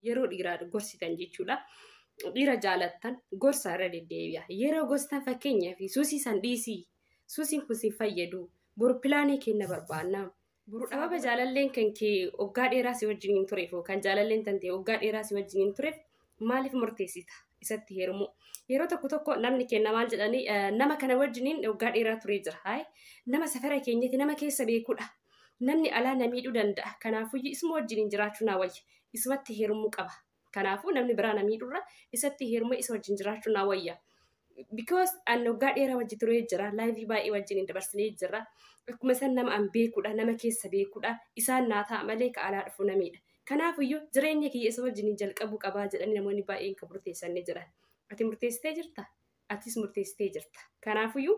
yeroo dhiiraa gorsitan jechuudha. Dhiira jaalattan gorsa irra deddeebi'a. Yeroo gorstan fakkeenyaaf suusii san dhiisii suusiin kun sin fayyadu boru pilaanii kenna barbaanna. Boru dhababa jaalalleen kan kee waggaa dheeraa si wajjin hin tureef kan jaalalleen tantee waggaa dheeraa si wajjin hin tureef maaliif murteessita isatti heerumuu. Yeroo tokko tokko namni kenna maal jedhanii nama kana wajjiniin waggaa dheeraa turee jira. Nama safara keenyatti nama keessa beekudha. namni alaa na miidhuu danda'a kanaafuyyu isuma wajjiniin jiraachuu naa wayya isumatti heerumuu qaba kanaafuu namni biraa na miidhurra isatti heeruma isa wajjin jiraachuu naa wayya because an waggaa dheeraa wajji turee jira laayivii baay'ee wajjin hin dabarsinee jira akkuma isaan nama an beekuudha nama keessa beekuudha isaan naa ta'a malee ka alaa dhufu na miidha kanaafuyyu jireenya kiyya isa wajjiniin jalqabuu qabaa jedhanii namoonni baay'een kan murteessanii jiran ati murteessitee jirta atis murteessitee jirta kanaafuyyu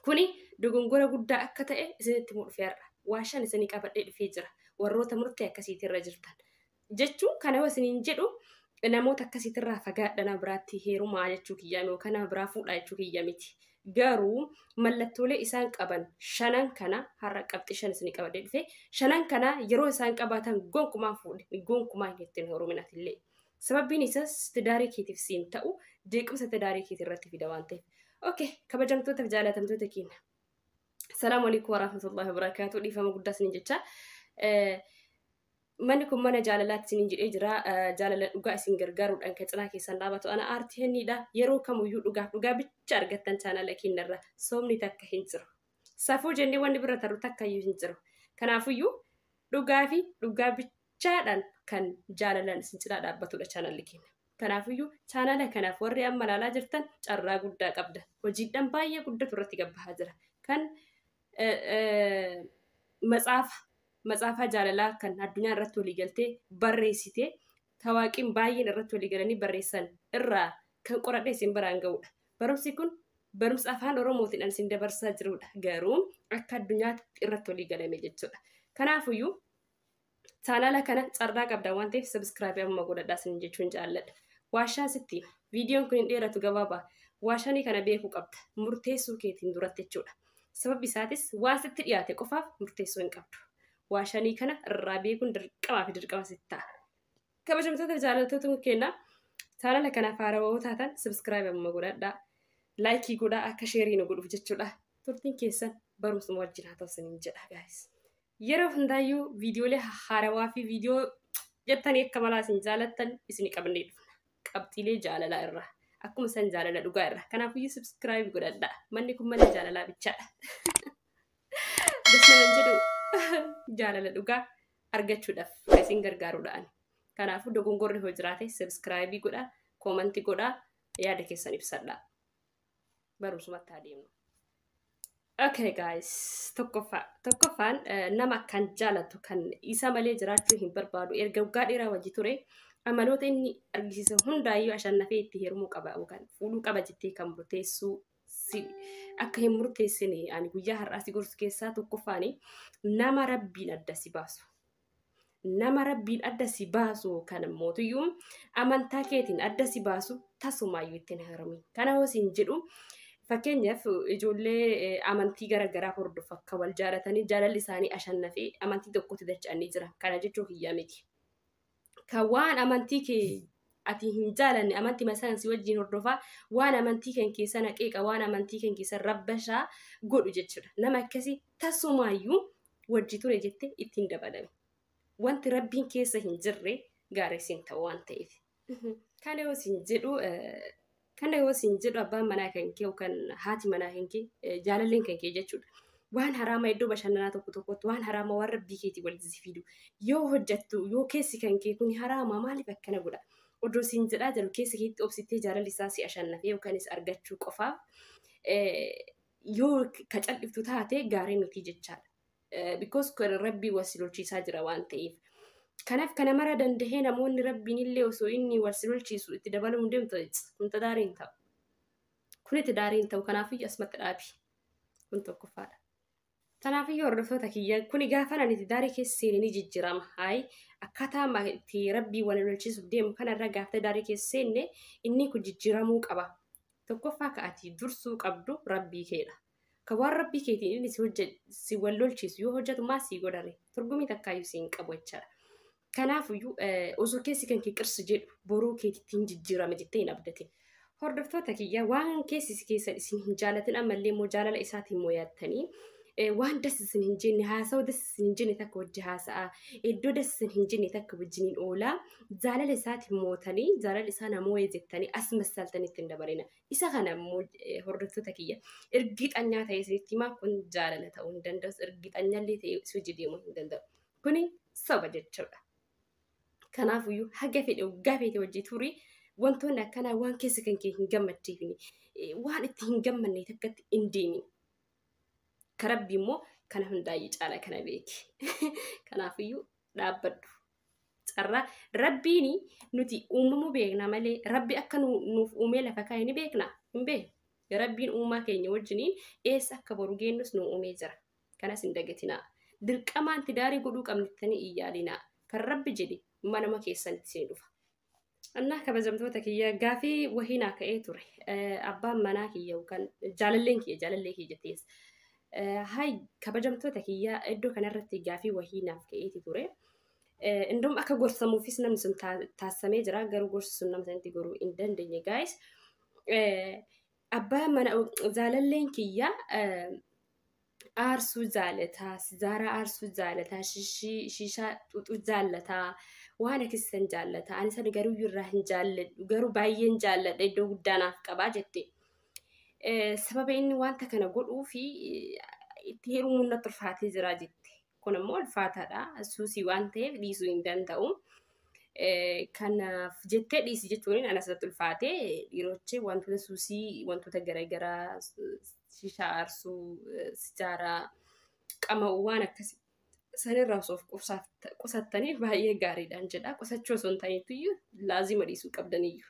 Kuni dogongora guddaa akka ta'e isinitti himuu dhufe har'a. Waa shan isinii qabadhee dhufee jira. Warroota murtee akkasiitirra jirtan. Jechuun kana yoo isiniin jedhu namoota akkasiitirraa fagaadha nama biraatti heerumaa jechuu kiyyaa yookaan nama biraa fuudhaa jechuu kiyya miti. Garuu mallattoolee isaan qaban shanan kana har'a qabxii shan isinii qabadhee dhufe shanan kana yeroo isaan qabaatan gonkumaa fuudhe gonkumaa hin ittiin heeruminaatillee. Sababbiin isaas tidaarii keetiif siin ta'u jeequmsa tidaarii keetii irratti fida waan ta'eef. Okay, kabajamtootaaf jaalatamtoota keenya. Salaamu alaikum warahmatullahi wabarakatuh. Dhiifama guddaa isiniin jecha. Manni kun mana jaalalaatti isiniin jedhee jira. Jaalala dhugaa isin gargaaruudhaan kan cinaa keessan dhaabatu ana aartii henniidha. Yeroo kamiyyuu dhugaaf dhugaa bicha argattan chaanala keenyarra soomni takka hin jiru. Safuu jennee wanni bira tarru takka iyyuu hin jiru. Kanaafiyyuu dhugaa fi dhugaa bicha dachaadhaan kan jaalalaan isin cinaa dhaabbatudha chaanalli keenya. Kanaafiyyuu chaanala kanaaf warri amma ilaalaa jirtan carraa guddaa qabda. Hojiidhaan baay'ee guddatu irratti gabbahaa jira. Kan matsaafa matsaafaa jaalalaa kan addunyaa irratti walii galtee barreessite tawaaqiin baay'een irratti walii galanii barreessan irraa kan qoradhee isin biraan ga'udha. Barumsi kun barumsa afaan Oromootiin an isin dabarsaa jirudha. Garuu akka addunyaatti irratti walii galame jechuudha. Kanaafiyyuu Chaanaala kana carraa qabdan waan ta'eef sabiskiraabii amma godhadhaa isin jechuun jaalladha. Waashaa sitti hima. Viidiyoon kun hin dheeratu gabaabaa. Waashanii kana beekuu qabda. Murteessuu keetiin duratti jechuudha. Sababni isaatis waan sitti dhiyaate qofaaf murteessuu hin qabdu. Waashanii kana irraa beekuun dirqamaa fi dirqama sitti ta'a. Kabajamtoota jaalattoota keenyaa chaanaala kanaaf haarawoo taatan sabiskiraabii amma godhadhaa. Laayikii godhaa akka sheerii nu godhuuf jechuudha. Turtiin keessan barumsuma wajjin haa ta'u isiniin jedha gaayis. Yeroo hundaayyuu viidiyoolee hahaarawaa fi viidiyoo jettanii akka malaa isin jaalattan isin qabannee dhufna. Qabxiilee jaalalaa irra. Akkuma san jaalala dhugaa irra. Kanaafuyyuu subscribe godhadha. Manni kun mana jaalalaa bichaadha. Dasnaman jedhu jaalala dhugaa argachuudhaaf kan isin gargaarudha ani. Kanaafuu dogongorri hoo jiraate subscribe godha, koomanti godha, yaada keessan ibsadha. barumsumatti haa deemnu. Okay guys, tokkoffaa tokkoffaan eh, nama kan jaalatu kan isa malee jiraachuu hin barbaadu erga waggaa dheeraa wajji ture amaloota inni argisiise hundaayyuu ashannafee itti heerumuu qaba yookaan fuudhuu qaba jettee kan murteessuu si akka hin murteessine ani guyyaa har'aa si gorsu keessaa tokkoffaani nama rabbiin adda si baasu nama rabbiin adda si baasu kan mootiyyuu amantaa keetiin adda si baasu tasumaayyuu ittiin heerumin kana hoo siin jedhu fakkeenyaaf ijoollee eh, amantii garaagaraa hordofa akka wal jaalatanii jaalalli isaanii ashannafee amantii tokkotti dacha'anii jira kana jechuu kiyyaa miti kan waan amantii kee ati hin jaalanne amantii masaan si wajjin hordofaa waan amantii kan keessa naqeeqa waan amantii kan keessa rabbashaa godhu jechuudha nama akkasii tasumaayyuu wajji ture jette itti hin dabalami. Wanti rabbiin keessa hin jirre gaariis hin ta'u waan ta'eef. Kana yoo sin jedhu kana yoo sin jedhu abbaan manaa kan kee yookaan haati manaa kan kee jaalalleen kan kee jechuudha. Waan haraama iddoo bashannanaa tokko tokkotti waan haraama waan rabbii keetii walitti si fidu yoo hojjattu yoo keessi kan kee kun haraama maaliif akkana godha? Odoo sin jedhaa jiru keessa keetti obsittee jaalalli isaa si ashannafee yookaanis argachuu qofaaf yoo ka caldhiftu taate gaarii miti jechaadha. Eh, Because kan rabbii wal si lolchiisaa jira waan ta'eef. Kanaaf kana mara dandahee namoonni rabbiin illee osoo inni wal si lolchiisu itti dabaluu hin deemtu kun tidaarii hin ta'u. Kun itti daarii hin ta'u kanaafiyyu asumatti dhaabi. Kun tokkoffaadha. Kanaafiyyu hordoftoota kiyya kuni gaafa ani itti daarii keessa seene ni jijjiirama. Hayi akkaataa amma itti rabbii wal lolchiisuuf deemu kanarra gaafa daarii keessa seenne inni kun jijjiiramuu qaba. Tokkoffaa ka ati dursuu qabdu Rabbii keedha. Ka waan Rabbii keetiin inni si hojje si wal lolchiisu yoo hojjetu maal sii godhare? Turgumii takkaayyuu si hin qabu jechaadha. Kanaafuyyuu eh, osoo keessi kan kee qirsi jedhu boruu keetitti hin jijjiirama jettee hin abdatin. Hordoftoota kiyya waan keessi si keessan isin hin jaalatin ammallee immoo jaalala isaatiin mo'attanii eh, waan das isin hin jenne haasa'u das isin hin jenne takka wajji haasa'a iddoo das isin hin jenne takka wajjiniin oolaa jaalala isaati mootanii jaalala isaa namoo'ee jettanii as massaltanii ittiin dabarina. Isa kana immoo hordoftoota kiyya irgixanyaa ta'ee isinitti himaa kun jaalala ta'uu hin danda'us irgixanyallee ta'ee si hojii deemuu hin danda'u. Kuni soba jechuudha. Kanaafuyyuu haga fedhe waggaa feete hojii turii wantoonni akkanaa waan keessa kan kee hin gammachiifne waan itti hin gammanne takkatti hin deemin. Karabbi immoo kana hundaa'ee caala kana beeki. Kanaafuyyuu dhaabbadhu. carraa rabbiin nuti uumamuu beekna malee rabbi akka nu- nuuf uumee lafa kaa'e ni beekna hin beekne rabbiin uumaa keenya wajjiniin eessa akka boru geennus nu uumee jira kanas hin dagatinaa dirqamaan tidaarii godhuu qabnittanii hin yaalinaa kan rabbi jedhe manama keessanitti isin dhufa Annaa kabajamtoota kiyya gaafii wahii naa ka'ee ture. Eh, Abbaan manaa kiyya yookaan jaalalleen kiyya jaalallee kiyya jettees. Eh, Hay kabajamtoota kiyya iddoo kanarratti gaafii wahii naaf ka'eeti ture. Eh, Indoom akka gorsamuufis namni sun taa- taasisamee jira garuu gorsi sun nama sanatti goruu hin dandeenye gaayis. Abbaan mana jaalalleen kiyya eh, aarsuu jaalataa, sijaaraa aarsuu jaalataa, shishii, shishaa xuxuu jaalataa, waan akkasiisan jaallata. Ani sana garuu irraa hin jaalladhu. Garuu baay'een jaalladha iddoo guddaa naaf qabaa jette. Eh, Sababa inni wanta kana godhuu fi eh, itti heerumuun natti ulfaatee jira jette. Kun immoo ulfaataadha. Suusii waan ta'eef dhiisuu hin danda'u. Kanaaf jettee dhiisi jechuun anas irratti ulfaate dhiirochi wantoota suusii wantoota garaagaraa shishaa aarsuu sijaaraa qama'u waan akkasii sanirraa osoo of qusattanii baay'ee gaariidhaan jedha. Qusachuu osoo hin taaneetu iyyuu laazima dhiisuu qabdaniyyuu.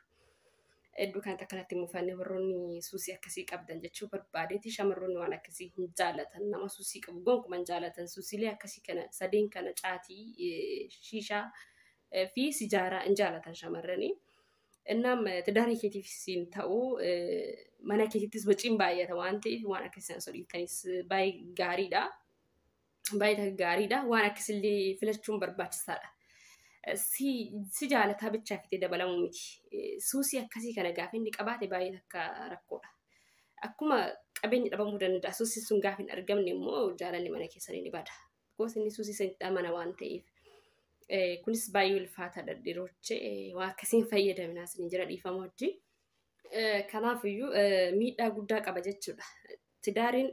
Hedduu kanatti akkanatti mufanne warroonni suusii akkasii qabdan jechuu barbaadeeti shamarroonni waan akkasii hin jaalatan nama suusii qabu gonkuma hin jaalatan suusiilee akkasii kana sadeen kana caatii eh, shiishaa eh, fi sijaaraa hin jaalatan shamarranii. Innaam eh, tidaarii keetiif siin ta'u eh, mana keetittis waciin baay'ata waan ta'eef waan akkasii sana osoo dhiiftaniis baay'ee gaariidha. baay'ee gaariidha. Waan akkasillee filachuun barbaachisaadha. Si, si jaalataa bichaa fitee dabalamuu miti. Suusii akkasii kana gaafa inni qabaate baay'ee akka rakkoodha. Akkuma qabeenyi dhabamuu danda'a. Suusiin sun gaafa hin argamne immoo jaalalli mana keessanii ni bada. Gosa inni suusii sanitti amana waan ta'eef. Eh, Kunis baay'ee ulfaataadha dhiroche. Eh, Waan akkasiin fayyadaminaa isin jira dhiifama wajjin. Eh, Kanaafiyyuu eh, miidhaa guddaa qaba jechuudha. Tidaariin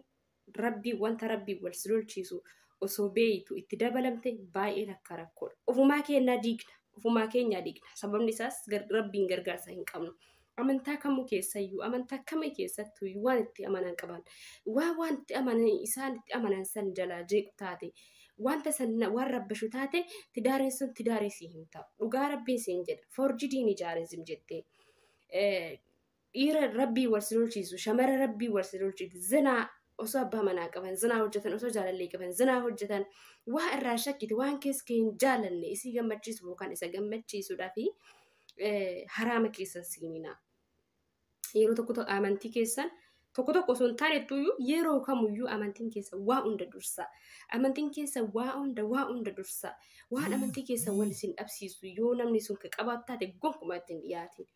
Rabbiin wanta Rabbiin wal si lolchiisu osoo beeytu itti dabalamte baay'een akka rakkoodha. Ofumaa keenyaa diigna. Ofumaa keenyaa diigna. Sababni isaas gar- Rabbiin gargaarsa hin qabnu. Amantaa kamuu keessayyuu, amantaa kamii keessattuu waan itti amanan qaban, waa waan itti amanan, isaan itti amanan san jalaa jeequ taate, wanta san na- waan rabbashu taate, tidaariin sun tidaarii sii hin ta'u. Dhugaa Rabbiin siin jedha. Forjidii ni jaarizim jettee. Eh, dhiira rabbii wal si lolchiisu shamara rabbii wal si lolchiisu zinaa osoo abbaa manaa qaban zinaa hojjetan osoo jaalallee qaban zinaa hojjetan waa irraa shakkite waan keessa kee hin jaalanne isii gammachiisu yookaan isa gammachiisudha fi haraama keessan seenina yeroo tokko tokko amantii keessan tokko tokko osoo hin taanettuyyu yeroo kamuyyuu amantiin keessa waa hunda dursa amantiin keessa waa hunda waa hunda dursa waan amantii keessa wal isin dhabsiisu yoo namni sun ka qabaatu taate gonkumaa ittiin dhiyaatin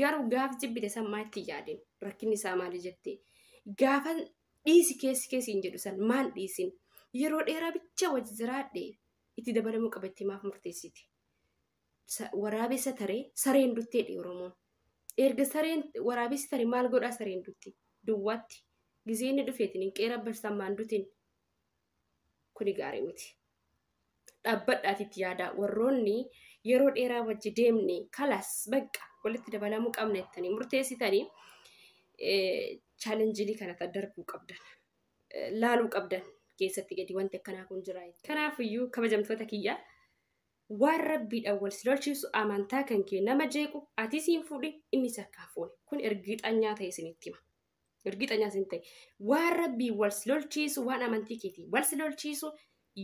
Garuu gaaf jibbite san maa itti yaadin rakkinni isaa maali jettee gaafa dhiisi keessi keessi hin jedhu san maan dhiisin yeroo dheeraa bicha wajji jiraadhe itti dabalamuu qaba itti maaf murteessite. Sa- Waraabessa taree sareen dutteedha Oromoon. Erga sareen waraabessi tare maal godhaa sareen dutti duwwaatti gisee inni dhufeetiin hin qeera barsammaan dutin kuni gaarii miti. Dhaabbadhaati itti yaadaa warroonni yeroo dheeraa wajji deemne kalas baqqa walitti dabalamuu qabna jettanii murteessitanii chaalenjii kana darbuu qabdan laaluu qabdan keessatti gadi wanti akkanaa kun jira. Kanaafiyyuu kabajamtoota kiyya waan rabbiidhaan wal si lolchiisu amantaa kan kee nama jeequ atis hin fuudhin innis akka hin fuune kun ergiixanyaa ta'e isinitti hima. Ergixanyaa sin ta'e. Waan rabbii wal si lolchiisu waan amantii keetii wal si lolchiisu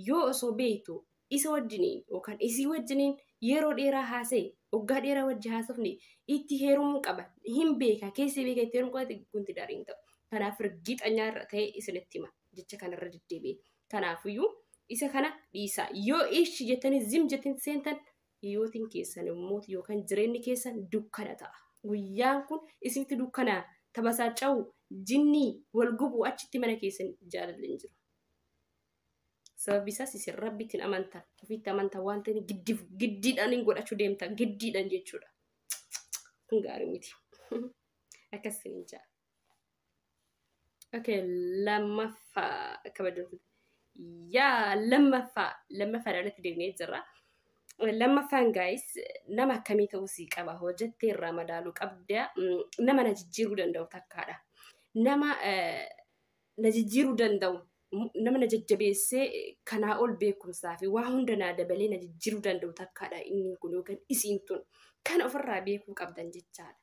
yoo osoo beektu isa wajjiniin yookaan isii wajjiniin yeroo dheeraa haasa'e waggaa dheeraa wajji haasofne itti heerumuu qaba hin beeka keessi beeka itti heerumuu qaba kunti daariin ta'u. Kanaaf ergixanyaa irra ta'e isinitti hima jecha kanarra deddeebi'e. Kanaafiyyuu isa kana dhiisaa yoo ishi jettanii zim jettin seentan Hiyootiin keessan immoo yookaan jireenyi keessan dukkana ta'a. Guyyaan kun isinitti dukkana tabasaaca'u jinnii wal gubu achitti mana keessan jaalalli hin jiru. Sababni isaas isin rabbitti hin amantan. Ofitti amantan waan ta'eef giddi giddiidhaan hin godhachuu deemta. Giddiidhaan jechuudha. Kun gaarii miti. Akkas isin hin jaal. Okay, lammaffaa kabajamtoota. Yaa lammaffaa lammaffaa irratti deemnee jirra. Lammaffaan gaayis nama akkamii ta'uu sii qaba hojjettee irraa madaaluu qabda Mm, nama na jijjiiruu danda'u takkaadha. Nama eh, na jijjiiruu danda'u m- nama na jajjabeessee eh, kanaa ol beekumsaa fi waa hunda naa dabalee na jijjiiruu danda'u takkaadha inni kun yookaan isiin tun kana ofirraa beekuu qabdan jechaadha.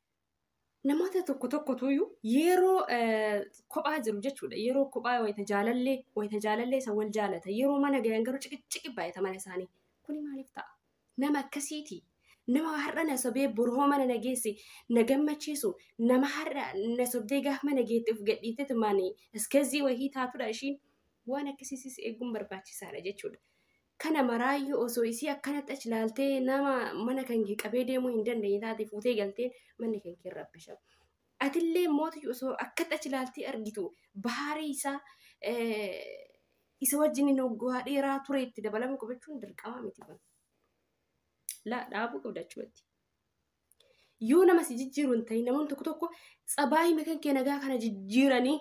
namoota tokko tokkotu iyyuu yeroo eh, kophaa jiru jechuudha. Yeroo kophaa wayita jaalallee wayita jaalallee isa wal jaalata. Yeroo mana gahan garuu ciqiciqi baay'ata mana isaanii. Kuni maaliif ta'a? Nama akkasiiti. Nama har'a na sobee boroo mana na geesse na gammachiisu nama har'a na sobdee gaafa mana geette of gadhiitte tumaanii iskazii wahii taatudha ishiin waan akkasiisis eeguun barbaachisaadha jechuudha. Kana maraayyu osoo isii akkanatti achi laaltee nama mana kan kee qabee deemuu hin dandeenye taate fuutee galteen manni kan kee rabbisha. Atillee mootii osoo akkatti achi laaltee argitu bahaarii isaa isa wajjin noggaa dheeraa ture itti dabalama qabachuun dirqama miti kun. Laa dhaabuu qabda achumatti. Yoo nama si jijjiiru hin ta'in namoonni tokko tokko tsabaayii makan kee nagaa kana jijjiiranii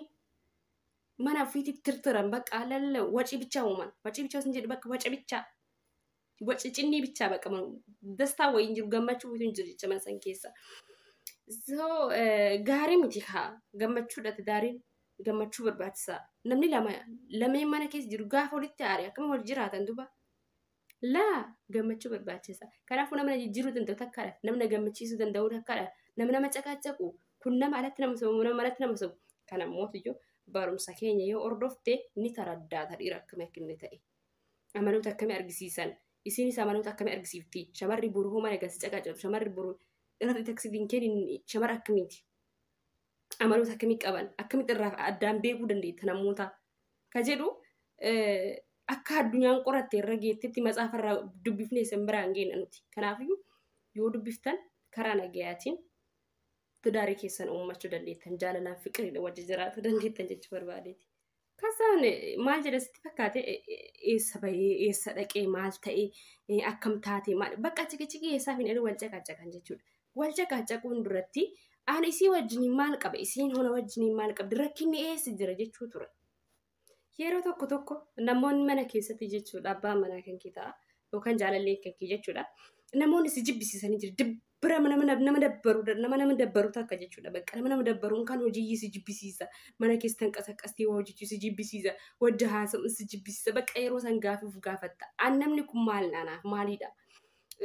mana ofiitti tirtiran bakka lalla wacii bichaa uuman. Wacii bichaa sin jedhu bakka waca bichaa. Waci cinnii bichaa bakka dastaa wayii hin jiru gammachuu wayitu hin jiru jecha mana san keessa. So gaarii miti haa gammachuudha tidaariin gammachuu barbaachisaa. Namni lama lameen mana keessa jiru gaafa walitti aare akkam wal jiraatan duba. Laa gammachuu barbaachisa. Kanaafuu nama jijjiiruu danda'u takkaadha. Namna gammachiisuu danda'u takkaadha. Nama nama caqaacaqu kun nama alatti nama sobu nama alatti nama sobu. Kana mootiyyuu barumsa keenya yoo hordofte ni taraddaata dhiira akkamii akka inni ta'e. Amaloota akkamii argisiisan. Isiinis amaloota akkamii argisiifti. Shamarri boru hoo mana galsi caqaacaqu shamarri boru irratti taksiitiin kennin shamara akkamiiti. amaloota akkamii qaban akkamitti irraa addaan beekuu dandeetta namoota ka jedhu eh, akka addunyaan qoratte irra geettetti matsaafa irraa dubbifnee isin biraan geenna nuti kanaafiyyuu yoo dubbiftan karaa nagayaatiin tidaarii keessan uummachuu dandeettan jaalalaan fiqiriidha wajji jiraatu dandeettan jechuu barbaadeeti. Kasaan maal jedha sitti fakkaate eessa bahee eessa dhaqee maal ta'ee akkam taatee maal bakka ciqiciqii eessaaf hin wal caqacaqan jechuudha. Wal caqacaquun duratti ani isii wajjiniin maal qaba isiin hona wajjiniin maal qabdi rakkinni eessa jira jechuu ture. Yeroo tokko tokko namoonni mana keessatti jechuudha abbaan manaa kan kee ta'a yookaan jaalallee kan kee jechuudha. Namoonni si jibbisiisanii jiru bira nama nama nama dabbaru nama nama dabbaru takka jechuudha bakka nama nama dabbaruun kan hojii si jibbisiisa mana keessan qasaqastii waa hojjechuu si jibbisiisa wadda haasa'u si jibbisiisa bakka yeroo san gaafiif gaafatta an namni kun maal anaaf maaliidha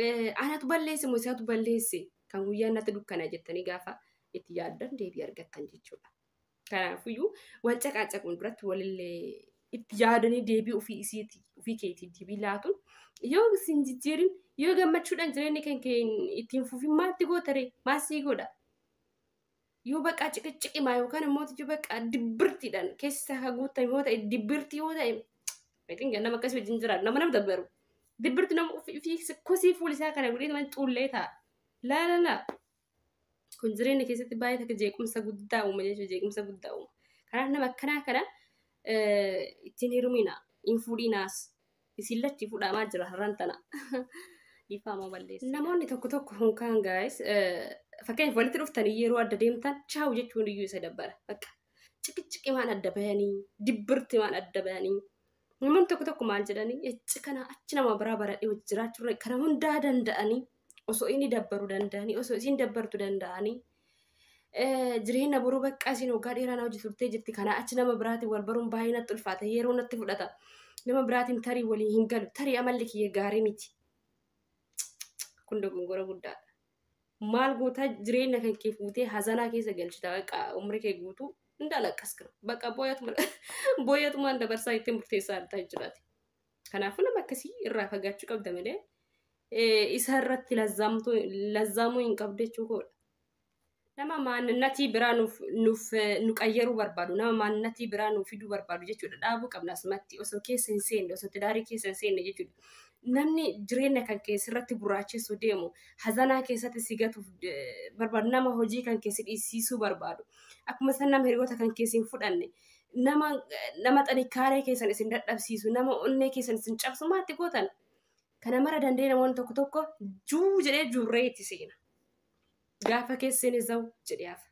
Eh, anatu balleesse moo isatu balleesse kan guyyaan natti dukkana jettanii gaafa itti yaaddan deebii argattan jechuudha. Kanaafuyyuu wal caqaacaquun duratti walillee itti yaadanii deebii ofii isiiti ofii keetiif deebii laatuun yoo isin jijjiirin yoo gammachuudhaan jireenya kan keen ittiin fufin maatti gootare maasii godha. Yoo baqaa ciqiciqimaa yookaan immoo yoo baqaa dibbirtiidhaan keessa haguutan yoo ta'e dibbirtii yoo ta'e beekin gannama akkasii wajjin jiraatu nama nama dabbaru. Dibbirti nama ofii kosii fuulisaa kana godhee nama xuullee ta'a. Laa laa laa. kun jireenya keessatti baay'ee takka jeequmsa guddaa uuma jechuudha jeequmsa guddaa uuma kanaaf nama akkanaa kana eh, ittiin heerumina hin fuudhinaas isin latti fuudhamaa jira har'aan tana dhiifama balleessa namoonni tokko tokko hunkaan gaayis fakkeenyaaf walitti dhuftanii yeroo adda deemtan chaawu jechuun iyyuu isa dabbara bakka ciqiciqimaan adda bayanii dibbirtimaan adda bayanii Namoonni tokko tokko maal jedhanii ecci kana achi nama biraa baradhee wajji jiraachurra kana hundaa danda'anii osoo inni dabbaru danda'anii osoo isiin dabbartu danda'anii eh, jireenya boruu baqqaa isiin waggaa dheeraa na hojii turtee jirti kana achi nama biraatiin wal baruun baay'ee natti ulfaata yeroo natti fudhata nama biraatiin tarii waliin hin galu tarii amalli kiyya gaarii miti kun dogongora guddaadha. maal gootaa jireenya kan kee fuutee hazanaa keessa galchita baqa umri kee guutuu hin dalaqqas kana baqa booyatuma booyatumaan dabarsaa itti murteessaa addaa jiraate. Kanaafuu nama akkasii irraa fagaachuu qabda malee isa irratti lazzaamtuu- lazzaamuu hin qabdu jechuu koodha. nama maanninatii biraa nuuf nuuf nu qayyaruu barbaadu nama maanninatii biraa nuuf fiduu barbaadu jechuudha dhaabuu qabna asumatti osoo keessa hin seenne osoo tidaarii keessa hin seenne jechuudha namni jireenya kan keessa irratti gurraachessu deemu hazanaa keessatti si gatuuf eh, barbaadu nama hojii kan keessa dhiisiisuu barbaadu akkuma san nama hiriyoota kan keessa hin fudhanne nama nama xinikaaree keessan isin dadhabsiisu nama onnee keessan isin cabsu maatti gootan kana mara danda'e namoonni tokko tokko juu jedhee juurree itti seena. gaafa keesseen isawu jedhee hafa.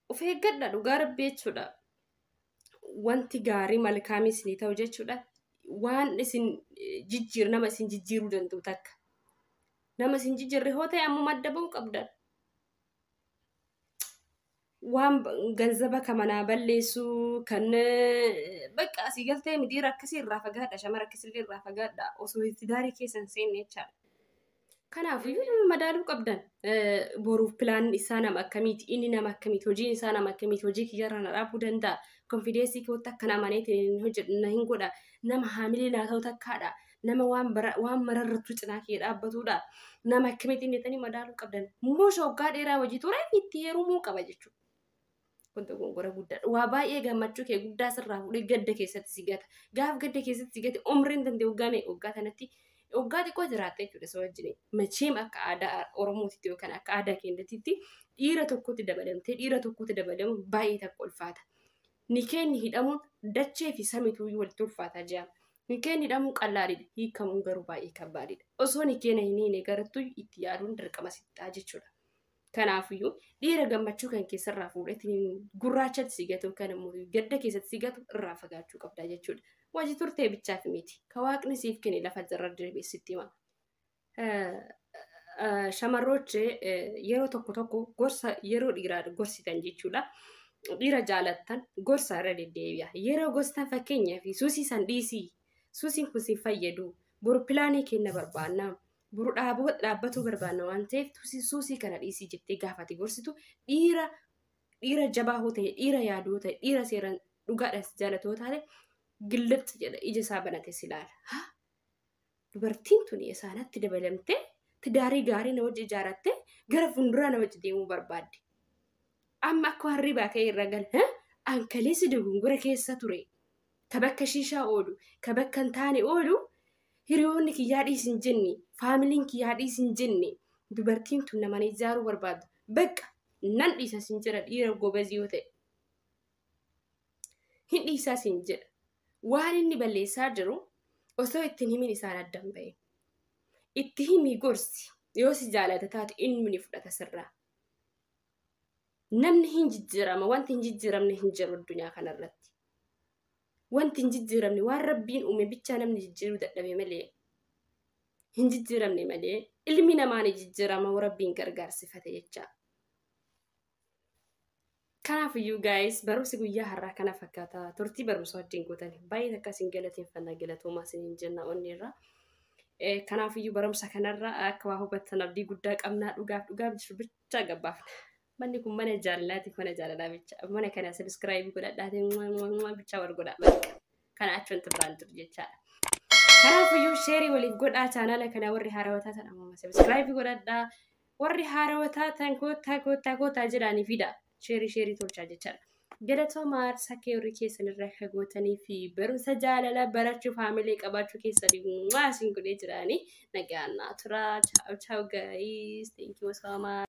Of eeggadha dhugaa rabbi jechuudha. Wanti gaarii malkaamii isinii ta'u jechuudha. Waan isin jijjiir nama isin jijjiiruu danda'u takka. Nama isin jijjiirre hoo ta'e ammuma adda ba'uu qabdan. waan ganzaba ka manaa balleessu kan bakka asii galtee midiira akkasii irraa fagaadha shamara akkasillee irraa fagaadha osoo itti daarii keessan seenne jechaadha. Kanaaf madaaluu qabdan boruuf pilaan isaa nama akkamiiti inni nama akkamiiti hojiin isaa nama akkamiiti hojii kiyyarra na dhaabuu danda'a konfideensii kootti akka nama amanee hin hojjedhu na hin godha nama haamilee naa ta'u takkaadha nama waan bara waan mararrattu cinaa kee dhaabbatudha nama akkamitiin jetanii madaaluu qabdan muusha waggaa dheeraa hojii ture itti heerumuu qaba jechuudha. Kun dogongora guddaadha. Waa baay'ee gammachuu kee guddaa sirraa fuudhee gadda keessatti si gata. Gaaf gadda keessatti si gate umriin dandee waggaa meeqa waggaa kanatti waggaa xiqqoo jiraatta jechuudha isa wajjin. Macheem akka aadaa Oromootitti yookaan akka aadaa keenyatitti dhiira tokkotti dabalamtee dhiira tokkotti dabalamuun baay'ee takka ulfaata. Nikeenni hidhamuun dachee fi samituu walitti ulfaataa jira. Nikeen hidhamuun qallaadidha. Hiikamuun garuu baay'ee kabbaadidha. Osoo nikeena hin hiine garattuu itti yaaduun dirqama sitti ta'a jechuudha. Kanaafiyyuu dhiira gammachuu kan keessarraa fuudhetiin gurraachatti si gatu kan immoo gadda keessatti si gatu irraa fagaachuu qabda jechuudha. Wajji turtee bichaaf miti. Ka waaqni siif kene lafa irra deebi'ee sitti hima. Shamarroot yeroo tokko tokko gorsa yeroo dhiiraa gorsitan jechuudha. Dhiira jaalattan gorsa irra deddeebi'a. Yeroo gorstan fakkeenyaaf suusii san dhiisii suusiin kun si fayyadu boru pilaanii kenna barbaanna. Boru dhaabbatuu barbaanna waan ta'eef suusii kana dhiisii jettee gaafate gorsitu dhiira dhiira jabaa hoo ta'e dhiira yaaduu ta'e dhiira seeraan dhugaadhaan si jaalatoo taate gillixxi jedha ija isaa banate si ilaala. Dubartiin tuni Esaanatti dabalamtee tidaarii gaarii na wajji ijaarattee gara funduraa na wajji deemuu barbaaddi. Amma akka waan ribaa ka'e irra gal. ha? An kaleessa dogongora keessa ture. Ka bakka shiishaa oolu, ka bakka hin taane oolu hiriyoonni kiyyaa dhiisi hin jenne, faamiliin kiyyaa dhiisi hin jenne. Dubartiin tun nama na ijaaruu barbaadda. Bakka nan dhiisa sin jira dhiira gobazii yoo ta'e. hin dhiisaa siin jedha waan inni balleessaa jiru osoo ittiin himin isaan addan ba'e itti himii gorsi yoo si jaalata taate inni ni fudhata sirraa namni hin jijjiirama wanti hin jijjiiramne hin jiru addunyaa kanarratti wanti hin jijjiiramne waan rabbiin uume bichaa namni jijjiiruu dadhabe malee hin jijjiiramne malee ilmi namaa ni jijjiirama rabbiin gargaarsifate jechaa Kanaafiyyuu gaa'is barumsi guyyaa har'aa kana fakkaata turtii barumsa wajjin gootan baay'ee takka isin galateeffannaa galatoomaa isiniin jenna onneerraa. Eh, Kanaafiyyuu barumsa kanarraa akka waa hubattan abdii guddaa qabnaa dhugaaf dhugaaf jiru bichaa gabbaafna. Manni kun mana jaalalaatiif mana jaalalaa bicha. Mana kana sabiskiraayibii godhadhaatiin mua, mua, mua bichaa wal godhaa bakka. Kana achi wanti biraan jiru jechaadha. Kanaafiyyuu sheerii waliif godhaa chaanaala kana warri haarawwataa ta'an ammoo sabiskiraayibii godhadhaa. Warri haarawa taatan koottaa koottaa koottaa jedhaanii fida. Sheerii sheerii tolchaa jechaadha. Galatooma aarsaa kee horii keessan irraa akka gootanii fi barumsa jaalala barachuuf haamilee qabaachuu keessanii mwaa isin godhee jiraanii nagaan naa turaa. Chaaw chaaw guys. Thank you so much.